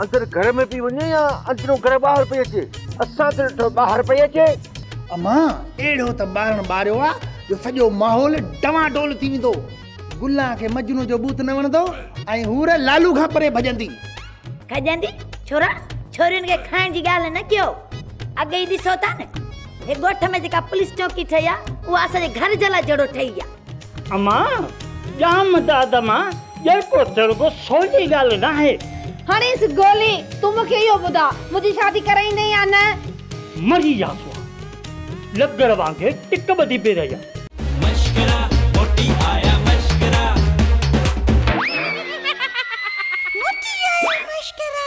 اندر گهر ۾ پئي وڃي يا اندرون گهر ٻاهر پئي اچي؟ اسان ته ڏٺو ٻاهر پئي اچي. امان، اهڙو ته ٻارڻ ٻاريو آ جو سڄو ماحول ڊوان ڊول ٿي ويندو. گلان کي مجنو جو بوت نه وڻندو ۽ حور لالو کان پري ڀڄندي. کڄندي؟ ڇورا، ڇورين کي کائڻ جي ڳالهه نه ڪيو. اڳ ئي ڏسو ٿا نه، هي ڳوٺ ۾ جيڪا پوليس چونڪي ٺهي آ، اها اسان جي گهر جي لاء جهڙو ٺهي آ. امان، ڄام داد مان ڄرڪو تڙڪو سولي ڳالهه ناهي. هڻيس گولي، تون مون کي اهو ٻڌاء، منهنجي شادي ڪرائيندين يا نه؟ مري يا سواء. لگڙ وانگي ٽڪ ٻڌي پئي رهي آهي. مشڪرا موٽي آيا مشڪرا. موٽي آيا مشڪرا.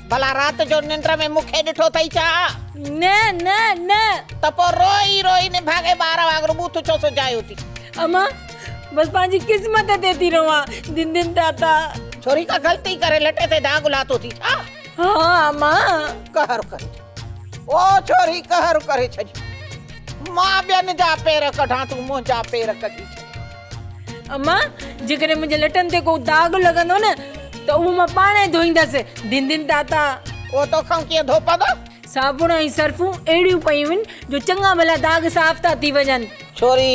ڀلا رات جو ننڊ ۾ مون کي ڏٺو اٿئي ڇا؟ نه نه نه. ته پوء روئي روئي نڀاڳي ٻار وانگر بوٿ ڇو سجايو اٿي؟ اما بس پنهنجي قسمت تي ٿي روئان دن دن تاتا. ڇوري ڪا غلطي ڪري لٽي تي داغ لاٿو اٿي ڇا؟ ها اما. قهر ڪري او ڇوري قهر ڪري ڇڏيو. مان ٻين جا پير ڪڍان تون منهنجا پير ڪڍي ڇڏ. امان! جيڪڏهن منهنجي لٽن تي ڪو داغ لڳندو نه ته اهو مان پاڻ ئي ڌوئيندس. ڌن ڌن تاتا! اهو توکان ڪيئن ڌوپندو؟ صابڻ ۽ سرفون اهڙيون پيون آهن جو چڱا ڀلا داغ صاف ٿا ٿي وڃن. ڇوري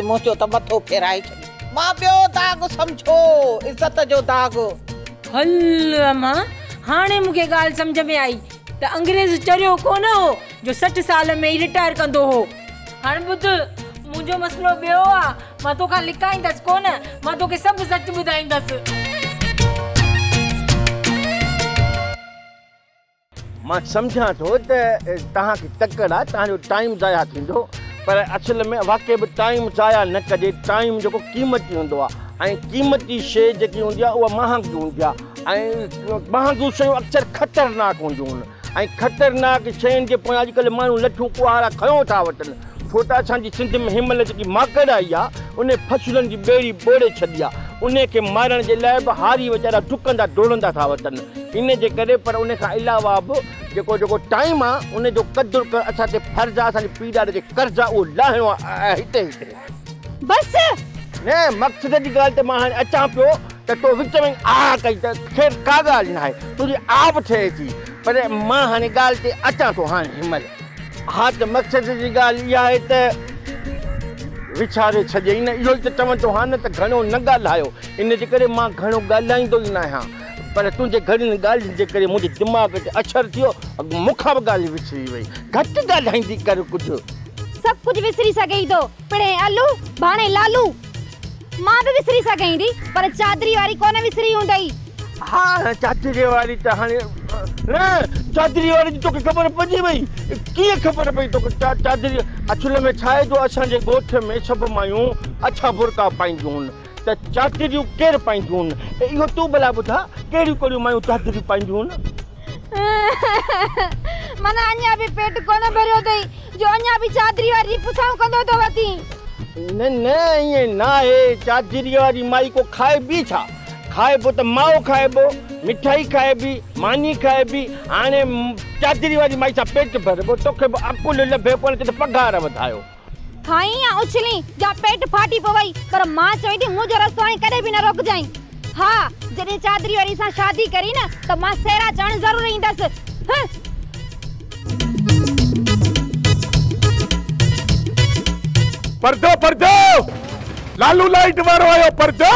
منهنجو ته مٿو ڦيرائي ڇڏيو. مان ٻيو داغ سمجهو عزت جو داغ. هل امان! هاڻي مون کي ڳالهه سمجهه ۾ آئي. ته انگريز چريو ڪونه هو جو سٺ سال ۾ ئي رٽائر ڪندو هو. هاڻ ٻڌ، منهنجو مسئلو ٻيو آ، مان توکان لڪائيندس ڪونه، مان توکي سڀ سچ ٻڌائيندس. مان سمجهان ٿو ته توهان کي تڪڙ آ، توهان جو ٽائيم ضايع ٿيندو، پر اصل ۾ واقعي به ٽائيم ضايع نه ڪجي، ٽائيم جيڪو قيمتي هوندو آ ۽ قيمتي شيء جيڪي هوندي آ اها مهانگي هوندي آ. ۽ ٻهانگيون شيون اڪثر خطرناڪ هونديون آهن ۽ خطرناڪ شين جي پويان اڄڪلهه ماڻهو لٺون ڪهاڙا کنيو ٿا وٺن ڇو ته اسان جي سنڌ ۾ هن مهل جيڪي ماڪڙ آئي آهي ان فصلن جي ٻيڙي ٻوڙي ڇڏي آهي ان کي مارڻ جي لاء به هاري ويچارا ڊڪندا ڊوڙندا ٿا وتن ان جي ڪري پر ان کان علاوه به جيڪو جيڪو ٽائيم آهي ان جو قدر ڪرڻ اسان تي فرض آهي اسان جي پيڙاڙي تي قرض آهي اهو لاهڻو آهي هتي هتي بس! نه مقصد جي ڳالهه تي مان هاڻي اچان پيو ته تو وچ ۾ ئي آء ڪئي ته خير ڪا ڳالهه ناهي تنهنجي آء به ٺهي ٿي پر مان هاڻي ڳالهه تي اچان ٿو هاڻي هن مهل. ها ته مقصد جي ڳالهه اها آهي ته وڇاري ڇڏيئي نه اهو ئي ته چون ٿو ها نه ته گهڻو نه ڳالهايو ان جي ڪري مان گهڻو ڳالهائيندو ئي ناهيان. پر تنهنجي گهڻين ڳالهين جي ڪري منهنجي دماغ تي اڇر ٿيو. اڳ مون کان به ڳالهه وسري وئي. گهٽ ڳالهائيندي ڪر ڪجهه. سڀ ڪجهه وسري سگهين ٿو. پڻهين الو، ڀاڻهين لالو. مان به وسري سگهين ٿي. پر چادري واري ڪونه وسري هوندئي. ها چادري واري ته هاڻي. نه چادري واري جي توکي خبر پئجي وئي. ڪيئن خبر پئي توکي چادري. اصل ۾ ڇا آهي جو اسان جي ڳوٺ ۾ سڀ مايون اڇا برقعا پائينديون هن. ته چادريون ڪير پائينديون؟ اهو تون ڀلا ٻڌاء ڪهڙيون ڪهڙيون مايون چادريون پائينديون؟ معنيٰ اڃا به پيٽ ڪونه ڀريو اٿئي جو اڃا به چادري واري پڇائون ڪندو ٿو وتين. نه نه ائين ناهي، چادريء واري مائي ڪو کائبي ڇا؟ کائبو ته ماء کائبو، مٺائي کائبي، ماني کائبي، هاڻي چادري واري مائي سان پيٽ ڀربو، توکي به عقل لڀي ڪونه ته پگهار وڌايو. کائين يا اڇلين جا پيٽ ڦاٽي پوي پر مان چوين ٿي منهنجو رستو هاڻي ڪڏهن به نه روڪجانء ها جڏهن چادري واري سان شادي ڪرين نه ته مان سيرا چوڻ ضرور ايندس هه. پردو پردو لالو لائيٽ وارو آيو پردو.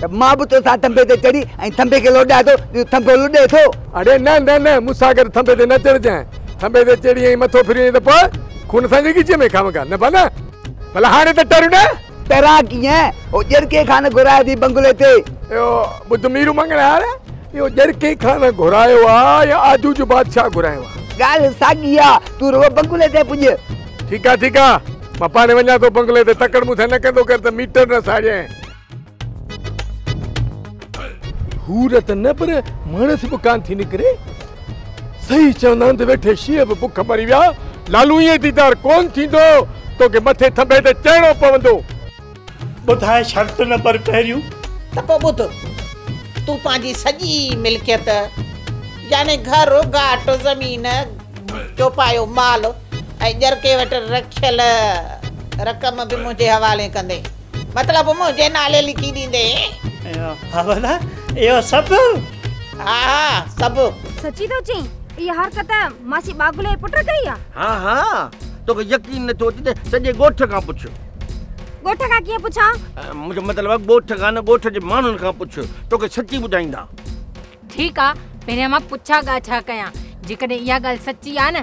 ته مان به توسان ٿنڀي تي چڙهي ۽ ٿنڀي کي لوڏيان ٿو جيئن ٿنڀو لڏي ٿو. اڙي نه نه نه مون سان گڏ ٿنڀي تي نه چڙهجانء. ٿنڀي تي چڙهي ۽ مٿو ڦري وڃين ته پوء خون اسان جي ڳچيء ۾ خامخا نه بنا. ڀلا هاڻي ته ٽر نه. ٽران ڪيئن؟ او ڄرڪي کان نه گهرايو اٿئي بنگلي تي. اهو ٻڌ ميرو مڱڻهار، اهو ڄرڪي کان نه گهرايو آ يا آجو جو بادشاهه گهرايو آ. ڳالهه ساڳي آ، تون رڳو بنگلي تي پڄ. ٺيڪ آ ٺيڪ آ، مان پاڻهي وڃان ٿو بنگلي تي، تڪڙ مون سان نه ڪندو ڪر ته ميٽر نه ساڙينء. حور ته نه پر ماڻس به ڪان ٿي نڪري صحيح چوندا آهن ته ويٺي شينهن به بک مري ويا لالو ائين ديدار ڪون ٿيندو توکي مٿي ٿنڀي تي چڙهڻو پوندو ٻڌاء شرط نمبر پهريون. ته پوء ٻڌ تون پنهنجي سڄي ملڪيت يعني گهر گهاٽ زمين چوپايو مال ۽ ڄرڪي وٽ رکيل رقم به منهنجي حوالي ڪندين. مطلب منهنجي نالي لکي ڏيندين. ها ڀلا اهو سڀ؟ ها ها سڀ. سچي ٿو چئين؟ اها حرڪت ماسي ٻاگلي جي پٽ ڪئي آ؟ ها ها توکي يقين نه ٿو اچي ته سڄي ڳوٺ کان پڇ. ڳوٺ کان ڪيئن پڇان؟ منهنجو مطلب آ ڳوٺ کان نه ڳوٺ جي ماڻهن کان پڇ توکي سچي ٻڌائيندا. ٺيڪ آ پهريان مان پڇا ڳاڇا ڪيان جيڪڏهن اها ڳالهه سچي آ نه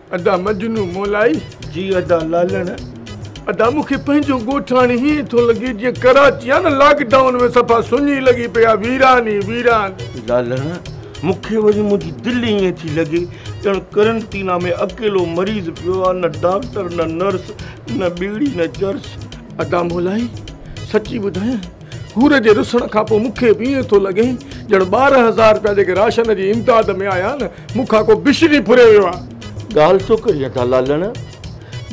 ادا مجنون مولائي. جي ادا لالڻ. ادا مون کي پنهنجو ڳوٺاڻي هيئن ٿو لڳي جيئن ڪراچي آ نه لاڪ ڊائون ۾ صفا سڃي لڳي پئي آ ويران ئي ويران. لالڻ. مون کي وري منهنجي دل هيئن ٿي لڳي ڄڻ قرنطينه ۾ اڪيلو مريض پيو آ نه ڊاڪٽر نه نرس نه ٻيڙي نه چرس. ادا مولائي سچي ٻڌايان. حور جي رسڻ کان پوء مون کي به ائين ٿو لڳي ڄڻ ٻارهن هزار رپيا جيڪي راشن جي امداد ۾ آيا آهن، مون کان ڪو بشري ڦري ويو آهي. ڳالهه ڇو ڪرين ٿا لالڻ؟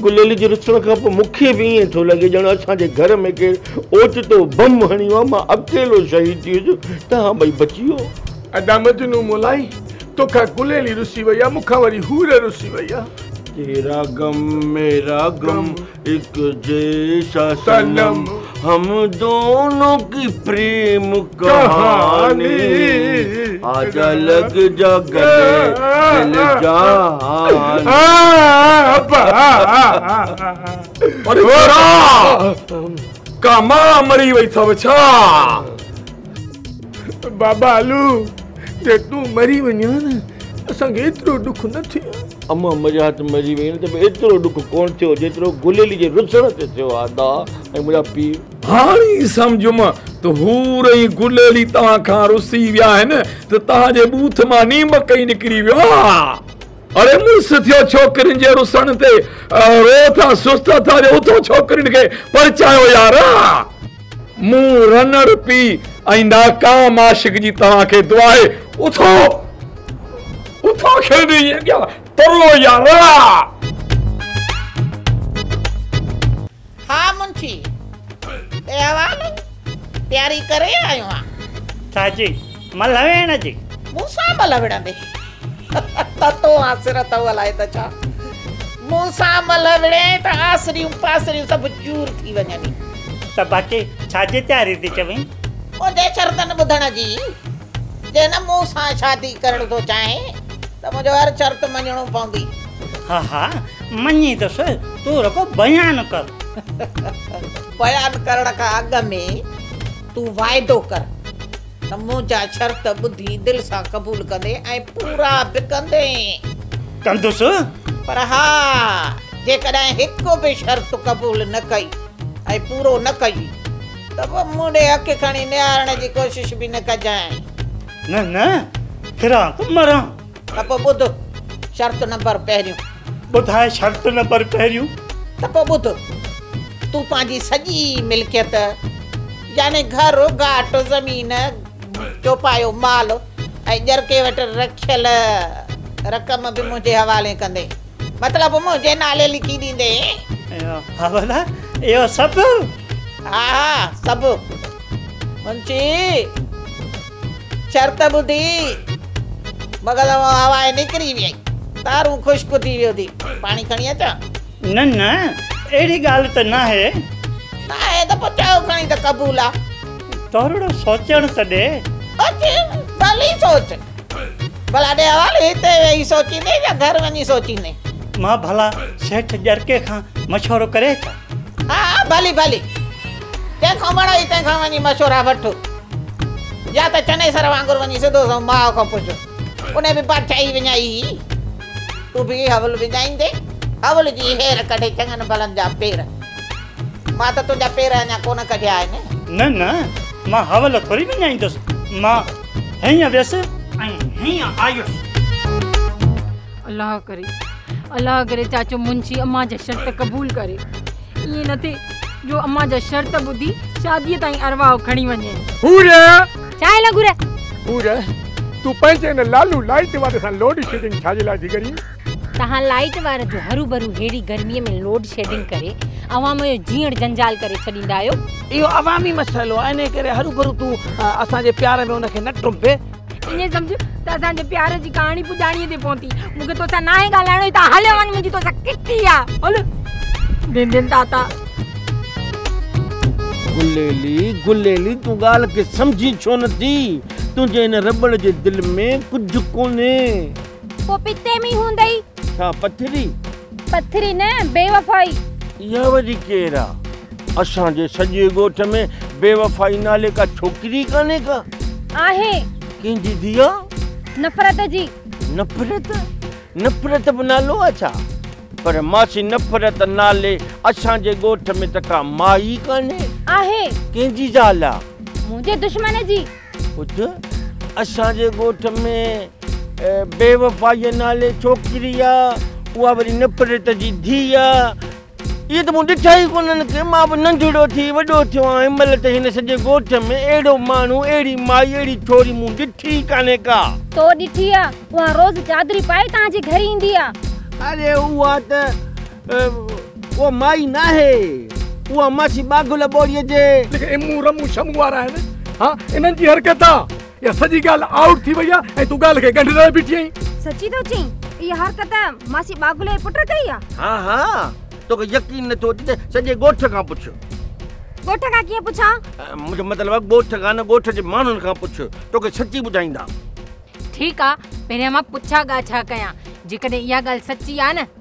گليل جي رسڻ کان پوء مون کي به ائين ٿو لڳي ڄڻ اسان جي گهر ۾ ڪير اوچتو بم هڻيو آهي، مان اڪيلو شهيد ٿي ويس، توهان ٻئي بچي ويو. ادا مجنون مولائي، تو کان گليل ئي رسي وئي آهي، مون کان وري حور رسي وئي آهي. تيرا غم ميرا غم. اک جيسا صنم هم دونو ڪي پريم ڪهاني آجا لڳ جا گڏي دل جهان ڪا ما مري وئي ٿو ڇا بابا علو جي تون مري وڃان اسان کي ايترو ڏک نه ٿئي امه مجا هٿ مري ويئن ته به ايترو ڏک ڪونه ٿيو جيترو گليلي جي رسڻ تي ٿيو آهي ادا ۽ منهنجا پيء. هاڻي سمجهيم ته حور ۽ گليلي توهان کان رسي ويا آهن ته توهان جي ٻوٿ مان نيمڪ ئي نڪري ويو آهي. اڙي مڙس ٿيو ڇوڪرين جي رسڻ تي رو ٿا سست اٿا جو اٿو ڇوڪرين کي پرچايو يار. مون رنڙ پي ۽ ناڪام عاشق جي توهان کي دعا آهي اٿو اٿو کين ائين ڏيا ترو يا رڙا. ها منشي احوال پياري ڪري آيو آ. ڇا جي ملهه ويڻ جي. مون سان ملهه وڙهندين ته تو آسر اٿئو الائي ته ڇا. مون سان ملهه وڙهين ته آسريون پاسريون سڀ چور ٿي وڃن ئي. ته باقي ڇا جي تياري ٿي چوين. منهنجي شرطن ٻڌڻ جي. جي نه مون سان شادي ڪرڻ ٿو چاهين ته منهنجو هر شرط مڃڻو پوندي. ها ها مڃيندس تون رڳو بيان ڪر. بيان ڪرڻ کان اڳ ۾ تون واعدو ڪر. سموجا شرط ٻڌي دل سان قبول ڪندي ۽ پورا به ڪندين. ڪندس. پر ها جيڪڏهن هڪ به شرط قبول نه ڪئي ۽ پورو نه ڪئي ته پوء مون ڏي اک کڻي نهارڻ جي ڪوشش به نه ڪجانء. نه نه ڦران ته مران. ته پوء ٻڌ شرط نمبر پهريون. ٻڌاء شرط نمبر پهريون. ته پوء ٻڌ. تون پنهنجي سڄي ملڪيت يعني گهر، گهاٽ، زمين، چوپايو مال ۽ ڄرڪي وٽ رکيل رقم به منهنجي حوالي ڪندين. مطلب منهنجي نالي لکي ڏيندين. ها ڀلا اهو سڀ؟ ها ها سڀ. منشي! شرط ٻڌي مغل مان هوا نڪري ويئي. تارون خشڪ ٿي ويو ٿي. پاڻي کڻي اچان؟ نه نه اهڙي ڳالهه ته ناهي. ناهي ته پوء چئو کڻي ته قبول آ. ٿورڙو سوچڻ ته ڏي. بس ڀلي سوچ. ڀلا ڏي حوالو هتي ويهي سوچيندين يا گهر وڃي سوچيندين؟ مان ڀلا سيٺ ڄرڪي کان مشورو ڪري اچان؟ ها ها ڀلي ڀلي جنهن کان وڻئي تنهن کان وڃي مشورا وٺ يا ته چنيسر وانگر وڃي سڌو سنئون ماء کان پڇ انهي به بادشاهي وڃائي هئي تون به حول وڃائيندي حول جي هير ڪڍي چڱن ڀلن جا پير مان ته تنهنجا پير اڃا ڪونه ڪڍيا آهن نه نه مان حول ٿوري وڃائيندس مان هيئن ويس ۽ هيئن آيس. الله ڪري الله ڪري چاچو منشي امان جا شرط قبول ڪري ائين نه ٿي جو امان جا شرط ٻڌي شادي تائين ارواح کڻي وڃي حور چاء نه گهر حور تو پنهنجي ان لالو لائيٽ واري سان لوڊ شيڊنگ ڇا جي لاء ٿي ڪرين تهان لائيٽ واري جو هرو برو هيڙي گرمي ۾ لوڊ شيڊنگ ڪري عوام جو جيئڻ جنجال ڪري ڇڏيندا آهيو اهو عوامي مسئلو آهي انهي ڪري هرو برو تو اسان جي پيار ۾ ان کي نه ٽمبي ائين سمجھ ته اسان جي پيار جي ڪهاڻي پڄاڻيء تي پهتي. مون کي توسان ناهي ڳالهائڻو هي ته هليو وڃ منهنجي توسان ڪٽي آ. هل ڊين ڊين تاتا. گليلي گليلي تون ڳالهه کي سمجهين ڇو نه ٿي. تنهنجي هن رٻڙ جي دل ۾ ڪجهه ڪونهي. پوء پتي ۾ هوندئي. ڇا پٿري. پٿري نه بيوفائي. اها وري ڪير آ؟ اسان جي سڄي ڳوٺ ۾ بيوفائي نالي ڪا ڇوڪري ئي ڪانهي ڪا. آهي. ڪنهن جي ڌي آ؟ نفرت جي. نفرت؟ نفرت به نالو آ ڇا؟ پر ماسي نفرت نالي اسان جي ڳوٺ ۾ ته ڪا مائي ئي ڪانهي. آهي. ڪنهن جي زال آ؟ منهنجي دشمن جي. پٽ، اسان جي ڳوٺ ۾ بي وفائيء نالي ڇوڪري آ، اها وري نپريت جي ڌيء آ. اهي ته مون ڏٺا ئي ڪونهن ڪي، مان به ننڍڙو ٿي وڏو ٿيو آهيان، هن مهل ته هن سڄي ڳوٺ ۾ اهڙو ماڻهو، اهڙي مائي، اهڙي ڇوري مون ڏٺي ئي ڪانهي ڪا. تو ڏٺي آ، اها روز چادري پائي توهان جي گهر ايندي آ. اڙي اها ته اها مائي ناهي اها ماڇي ٻاگهل ٻوڙيء جي. جيڪي امون رمون شمون وارا آهن ها انهن جي حرڪت آ اها سڄي ڳالهه آئوٽ ٿي وئي آ ۽ تون ڳالهه کي ڳنڍ لاء بيٺي آهين. سچي ٿو چئين اها حرڪت ماڇي ٻاگهل جي پٽ ڪئي آ. ها ها توکي يقين نٿو اچي ته سڄي ڳوٺ کان پڇ. ڳوٺ کان ڪيئن پڇان؟ منهنجو مطلب آ ڳوٺ کان نه ڳوٺ جي ماڻهن کان پڇ توکي سچي ٻڌائيندا. ٺيڪ آ پهريان مان پڇا ڳاڇا ڪيان جيڪڏهن اها ڳالهه سچي آ نه.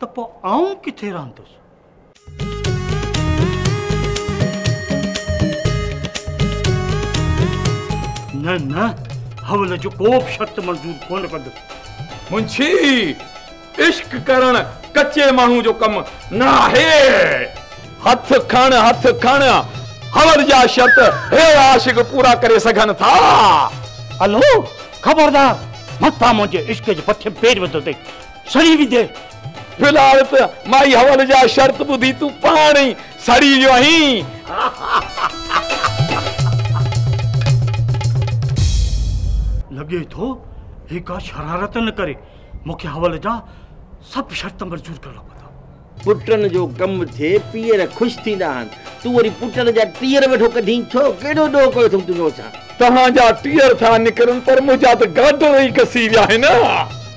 ته پوء آئون ڪٿي رهندس؟ نه نه حول جو ڪو به شرط منظور ڪونه ڪندس. منشي، عشق ڪرڻ ڪچي ماڻهو جو ڪم نه آهي. هٿ کڻ هٿ کڻ، حول جا شرط هي عاشق پورا ڪري سگهن ٿا. الهو، خبردار! متان منهنجي عشق جي پٺيم پير وڌو اٿئي. سڙي ويندي. ڀلار ته مائي حوال جا شرط ٻڌي تون پاڻ ئي سڙي ويو آهين. لڳي ٿو هي ڪا شرارت نه ڪري مونکي حوال جا سڀ شرط منظور ڪرڻا پوندا. پٽن جو ڪم ٿئي پيئر خوش ٿيندا آهن تون وري پٽن جا ٽيئر ويٺو ڪڍين ڇو ڪهڙو ڏوهه ڪيو اٿم تنهنجو اسان. توهان جا ٽيئر ٿا نڪرن پر منهنجا ته گارڊر ئي گسي ويا آهن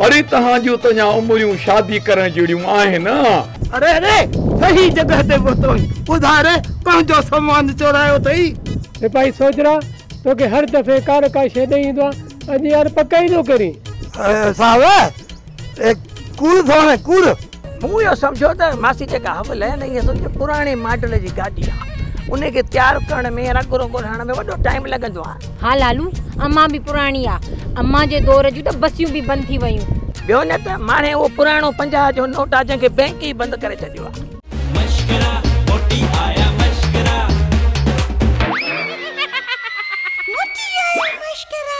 اڙي توهان جون ته اڃا عمريون شادي ڪرڻ جهڙيون آهن. اري اري صحيح جڳهه تي پهتو آهين ٻڌاء ري پنهنجو سامان چورايو اٿئي. سپاهي سوجهرا توکي هر دفعي ڪا نه ڪا شيء ڏئي ايندو آهي اڄ يار پڪائيندو ڪرين. صاحب اي ڪوڙ ٿو هي ڪوڙ. مون اهو سمجهيو ته ماسي جيڪا هوء لهيل اهي اصل ۾ پراڻي ماڊل جي گاڏي آهي انهي کي تيار ڪرڻ ۾ رنگ رونگ هڻڻ ۾ وڏو ٽائيم لڳندو آهي. ها لالو امان به پراڻي آ امان جي دور جون ته بسيون به بند ٿي ويون. ٻيو نه ته ماڻهي اهو پراڻو پنجاهه جو نوٽ آ جنهن کي بئنڪ ئي بند ڪري ڇڏيو آ. مشڪرا موٽي آيا مشڪرا. موٽي آيا مشڪرا.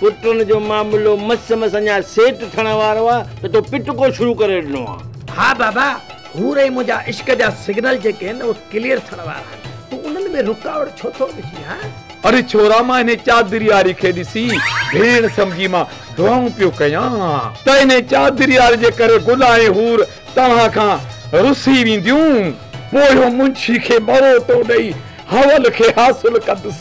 پٽڻ جو معاملو مس مس اڃا سيٽ ٿيڻ وارو آ ته تو پٽڪو شروع ڪري ڏنو آ. ها بابا، حور ۽ منهنجا عشق جا سگنل جيڪي آهن اهي ڪليئر ٿيڻ وارا آهن، تون انهن ۾ رڪاوٽ ڇو ٿو وجهين ها؟ اڙي ڇورا مان انهي چادرياري کي ڏسي ڀيڻ سمجهي مان دعائون پيو ڪيان. ته انهي چادرياري جي ڪري گل ۽ حور توهان کان رسي وينديون. پويون منشي کي مروٽو ڏئي حول کي حاصل ڪندس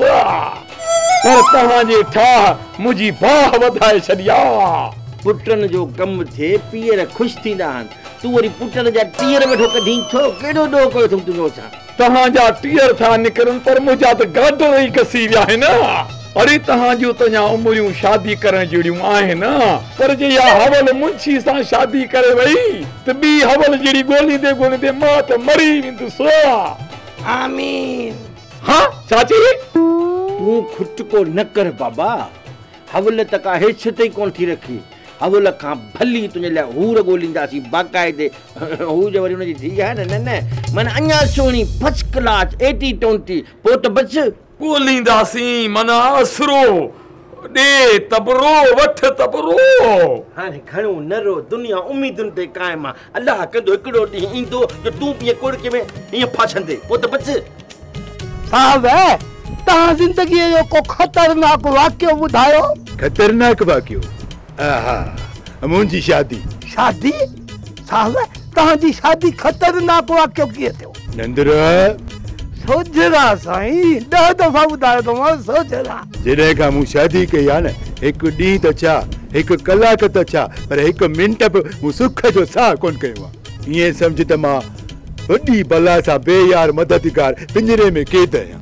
پر توهان جي ٺاهه منهنجي باهه وڌائي ڇڏي آ. پٽن جو ڪم ٿئي پيئر خوش ٿيندا آهن. تون وري پٽن جا ٽيئر ويٺو ڪڍين ڇو؟ ڪيڏو ڏوهه ڪيو اٿم تنهنجو اسان. توهان جا ٽيئر ٿا نڪرن پر منهنجا ته گاڊر ئي گسي ويا آهن. اڙي توهان جون ته اڃا عمريون شادي ڪرڻ جهڙيون آهن پر جي اها حول منشي سان شادي ڪري وئي ته ٻي حول جهڙي ڳوليندي ڳوليندي مان ته مري ويندس. آمين. ها چاچي تون کٽڪو نه ڪر بابا حول ته ڪا هيڇ تي ڪونه ٿي رکي حول کان ڀلي تنهنجي لاء حور ڳولينداسين باقاعدي هو جو وري هن جي ڌيء آهي نه نه نه معنيٰ اڃا سهڻي فرسٽ ڪلاس ايٽي ٽونٽي پوء ته بس ڳولينداسين معنيٰ اسرو، ڏي تبرو، وٺ تبرو. هاڻي گهڻو نه رو، دنيا اميدن تي قائم آ. الله ڪندو هڪڙو ڏينهن ايندو جو تون به ائين ڪوڙڪي ۾ ائين ڦاسندين. پوء ته بچ. صاحب، توهان زندگيء جو ڪو خطرناڪ واقعو ٻڌايو. خطرناڪ واقعو؟ اها منهنجي شادي. شادي؟ صاحب توهان جي شادي خطرناڪ واقعو ڪيئن ٿيو؟ نندرا. سوجهرا سائين ڏهه دفعا ٻڌايو ته مانس سوجهرا. جڏهن کان مون شادي ڪئي آهي نه هڪ ڏينهن ته ڇا هڪ ڪلاڪ ته ڇا پر هڪ منٽ به مون سک جو ساهه ڪونه کنيو آهي. ائين سمجهه ته مان وڏي بلا سان بي يار مددگار پڃري ۾ قيد آهيان.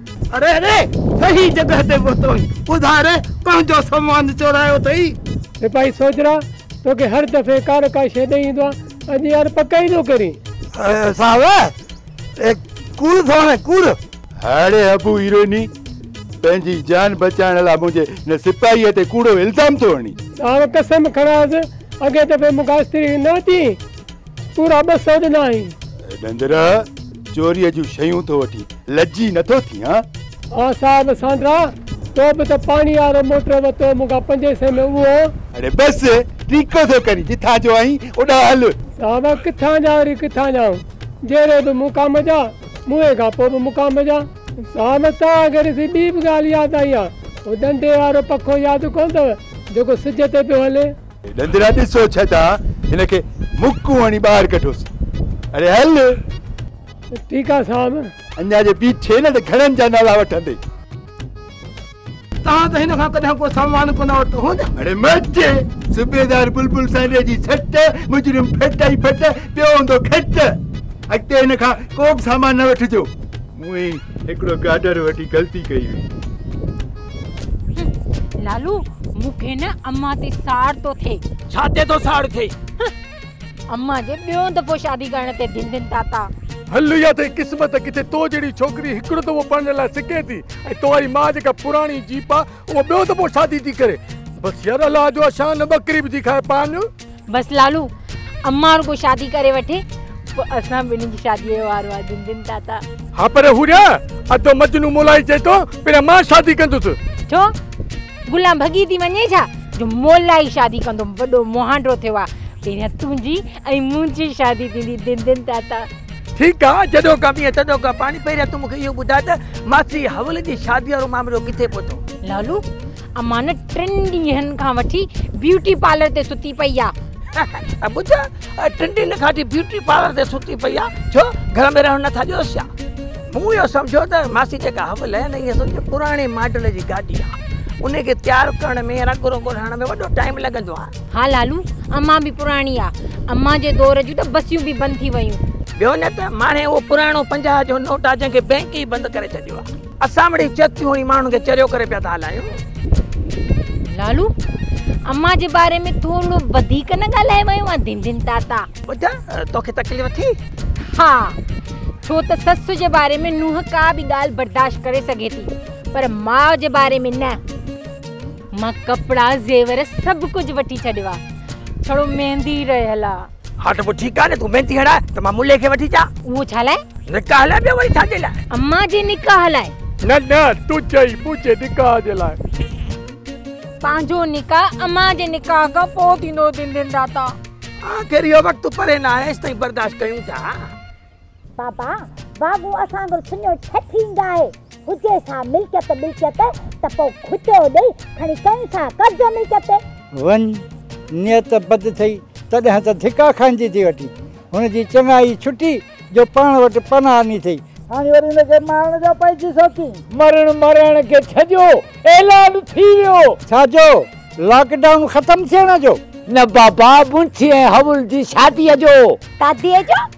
اري اري صحيح جڳهه تي پهتوئين. ٻڌاء ري پنهنجو سامان چورايو اٿئي؟ سپاهي سوجهرا توکي هر دفعي ڪا نه ڪا شيء ڏئي ايندو آ. اڄ يار پڪ ئي نو ڪرين. صاحب اهي ڪوڙ ٿو هڻين ڪوڙ. هاڙي ابو هيروئني پنهنجي جان بچائڻ لا منهنجي هن سپاهيء تي ڪوڙو الزام ٿو هڻين. صاحب قسم کڻانس اڳئين دفعي مون کان استري نه وتيئين. تون رابرٽ سر ڏنا آهين. ڏندر، چوريء جون شيون ٿو وٺين، لڄي نٿو ٿين ها؟ ها صاحب سانڊرا، تو به ته پاڻي وارو موٽر ورتو مون کان پنجين سئين ۾ اهو. اڙي بس، ٽيڪو ٿو ڪرين، جتان جو آهين اوڏانهن هل. صاحب ڪٿان جا وري ڪٿان جا آهون، جهڙي به مقام جا، موئي کان پوء به مقام جا. صاحب توهان کي ڏسي ٻي به ڳالهه ياد آئي ها، اهو ڏندي وارو پکو ياد ڪونه اٿو جيڪو سج تي پيو هلي. ڏندرا ڏسو ڇتا هن کي مڪون هڻي ٻاهر ڪڍوس اڙي هل. ٺيڪ آ صاحب. اڃا جي بيٺي نه ته گهڻن جا نالا وٺندي. توهان ته هن کان ڪڏهن ڪو سامان ڪونه ورتو هوند. اڙي مٽ صوبيدار بلبل سانري جي سٽ مجرم ڦٽ ۽ ڦٽ پيو هوندو کٽ اڳتي هن کان ڪو به سامان نه وٺجو. مون ئي هڪڙو گاڊر وٺي غلطي ڪئي هئي. لالو مون کي نه امان تي ساڙ ٿو ٿئي. ڇا تي ٿو ساڙ ٿئي؟ امان جي ٻيون دفعو شادي ڪرڻ تي ڌن ڌن تاتا. هل يا ٿئي قسمت ڪٿي تو جهڙي ڇوڪري هڪڙو دفعو پڙهڻ لاء سڪي ٿي ۽ تو واري ماء جيڪا پراڻي جيپ آ اها ٻيو دفعو شادي ٿي ڪري. بس يار الله جو آ شان ٻڪري به ٿي کائي پاڻ. بس لالو امان رڳو شادي ڪري وٺي پوء اسان ٻنهي جي شادي جو وارو آهي دن دن تاتا ها پر حوريا ادو مجنون مولائي چئي ٿو پهريان مان شادي ڪندس ڇو گلان ڀڳي ٿي وڃي ڇا جو مولائي شادي ڪندو وڏو مهانڊو ٿيو آهي پهريان تنهنجي ۽ منهنجي شادي ٿيندي دن دن تاتا ٺيڪ آهي جڏو ڪا مينهن تڏو ڪا پاڻي پهريان تون مون کي اهو ٻڌاء ته ماسي حول جي شادي وارو معاملو ڪٿي پهتو لالو امان ٽن ڏينهن کان وٺي بيوٽي پارلر تي ستي پئي آ ٻڌ ٽن ڏينهن کان وٺي بيوٽي پارلر تي ستي پئي آ ڇو گهر ۾ رهڻ نٿا ڏيوس ڇا مون اهو سمجهيو ته ماسي جيڪا هٻ لهي نه هي سمجهو پراڻي ماڊل جي گاڏي آ ان کي تيار ڪرڻ ۾ رنگ رنگو ٺاهڻ ۾ وڏو ٽائيم لڳندو آ ها لالو امان به پراڻي آ امان جي دور جون ته بسيون به بند ٿي ويون ٻيو نه ته ماڻهي اهو پراڻو پنجاهه جو نوٽ آ جنهن کي بئنڪ ئي بند ڪري ڇڏيو آ اسان وٽ هي چتيون هي ماڻهن کي چريو ڪري پيا ٿا هلايون لالو اما جي باري ۾ ٿورو وڌيڪ نه ڳالهائي ويو آ دين دين تاتا ٻڌ توکي تڪليف ٿي ها ڇو ته سس جي باري ۾ نوح ڪا به ڳالهه برداشت ڪري سگهي ٿي پر ماء جي باري ۾ نه مان ڪپڙا زيور سڀ ڪجهه وٺي ڇڏيو آ ڇڙو ميندي رهيل آ ها ته پوء ٺيڪ آهي نه تون ميندي هڻاء ته مان ملي کي وٺي اچان. اهو ڇا لاء؟ نڪاح لاء ٻيو وري ڇا جي لاء؟ امان جي نڪاح لاء. نه نه تون چئين منهنجي نڪاح جي لاء. پنهنجو نڪاح امان جي نڪاح کان پوء ٿيندو دندين داتا. آخر اهو وقت پري نه آهي ايستائين برداشت ڪيون ٿا. بابا واڳو اسان جو سڃو ڇهه ٿينگ آهي، هجي سا ملڪيت ٻلڪيت ته پوء کٽيو ڏئي کڻي ڪين سا قبضو ملڪيت تي. وڃ، نيت بد ٿئي تڏهن ته ڌڪا کائيندي ٿي وٺين. هن جي چڱائي ڇٽي جو پاڻ وٽ پناهه آني اٿئي. هاڻي وري هن کي مارڻ جو پئجي ٿو ڪين. مرڻ مرائڻ کي ڇڏيو، اعلان ٿي ويو. ڇا جو؟ لاڪ ڊائون ختم ٿيڻ جو؟ نه بابا، مونٿي ۽ هئول جي شاديء جو. داديء جو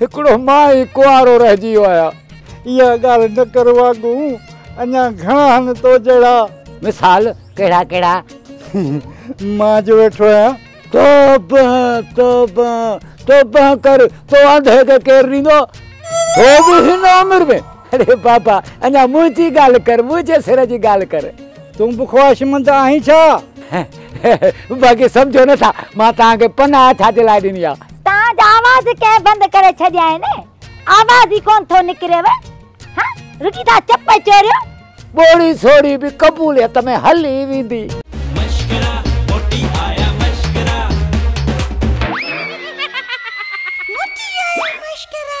هڪڙو مان ئي ڪنوارو رهجي ويو آهيان. اها ڳالهه نه ڪر واڳون، اڃا گهڻا هن تو جهڙا. مثال ڪهڙا ڪهڙا؟ مان جو ويٺو آهيان. توبه توبه توبه ڪر، تو انڌي کي ڪير ڏيندو؟ تو به هن عمر ۾. اڙي بابا، اڃا منهنجي ڳالهه ڪر، منهنجي سر جي ڳالهه ڪر. تون به خواهشمند آهين ڇا؟ باقي سمجهو نٿا، مان توهان کي پناهه ڇا جي لاء ڏني آهي؟ تان جا آواز ڪنهن بند ڪري ڇڏيائين. آواز ئي ڪونه ٿو نڪريو. ها رڳي ٿا چپ چوريو. ٻوڙي سوڙي به قبوليت ۾ هلي ويندي. مشڪرا موٽي آيا مشڪرا. موٽي آيا مشڪرا.